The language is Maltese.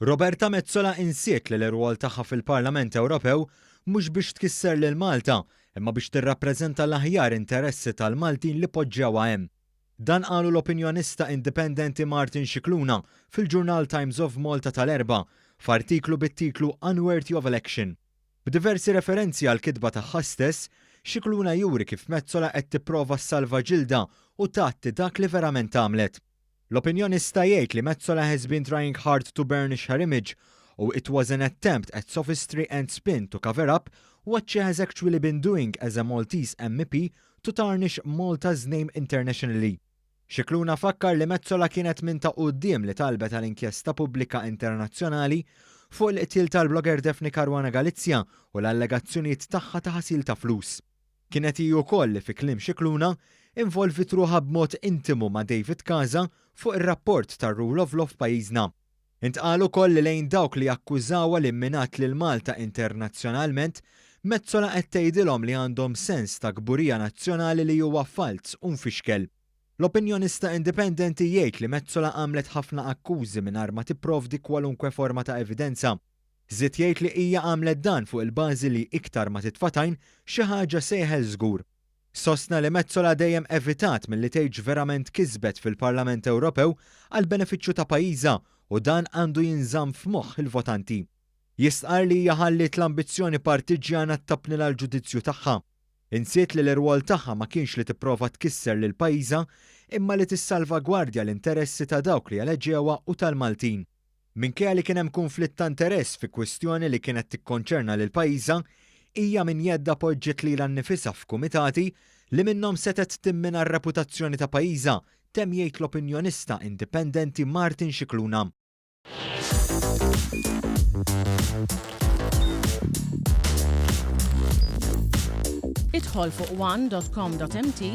Roberta Metsola insiet li l-irwol tagħha fil-Parlament Ewropew mhux biex tkisser lil Malta, imma biex tirrappreżenta l-aħjar interessi tal-Maltin li poġġewha hemm. Dan qalu l-opinjonista indipendenti Martin Scicluna fil-ġurnal Times of Malta tal-Erbgħa, f'artiklu bit-titlu Unworthy of Election. B'diversi referenzi għall-kitba tagħha stess, Scicluna juri kif Metsola qed tipprova ssalva ġildha u tgħatti dak li verament għamlet. L-opinjonista jgħid li Metsola has been trying hard to burnish her image u it was an attempt at sophistry and spin to cover up what she has actually been doing as a Maltese MEP to tarnish Malta's name internationally. Scicluna fakkar li Metsola kienet minn ta' quddiem li talbet għal inkjesta pubblika internazzjonali fuq il-qtil tal-blogger Daphne Caruana Galizia u l-allegazzjonijiet tagħha ta' ħasil ta' flus. Kienet hi wkoll li fi kliem Scicluna, involviet ruħha b'mod intimu ma' David Casa fuq ir-rapport tar-rule of law f'pajjiżna. Intqal ukoll li lejn dawk li jakkużawha li mminat lil Malta internazzjonalment, Metsola qed tgħidilhom li għandhom sens ta' kburija nazzjonali li huwa falz u mfixkel. L-opinjonista indipendenti jgħid li Metsola għamlet ħafna akkużi mingħajr ma tipprovdi kwalunkwe forma ta' evidenza. Żied jgħid li hija għamlet dan fuq il-bażi li iktar ma titfa' tajn, xi ħaġa se jeħel żgur. Sostna li Metsola dejjem evitat milli tgħid x'verament kisbet fil-Parlament Ewropew għall-benefiċċju ta' pajjiżha u dan għandu jinżamm f'moħħ il-votanti. Jistqarr li hija ħalliet l-ambizzjoni partiġġjana ttapnilha l-ġudizzju tagħha. Insiet li l-irwol tagħha ma kienx li tipprova tkisser lil pajjiżha imma li tissalvagwardja l-interessi ta' dawk li eleġewha u tal-Maltin. Minkejja li kien hemm kunflitt ta' interess fi kwistjoni li kienet tikkonċerna lil pajjiżha, hija minn jeddha poġġiet lilha nnifisha f'kumitati li minnhom setgħet timmina r-reputazzjoni ta' pajjiżha, temm jgħid l-opinjonista indipendenti Martin Scicluna. Idħol fuq one dot com dot mt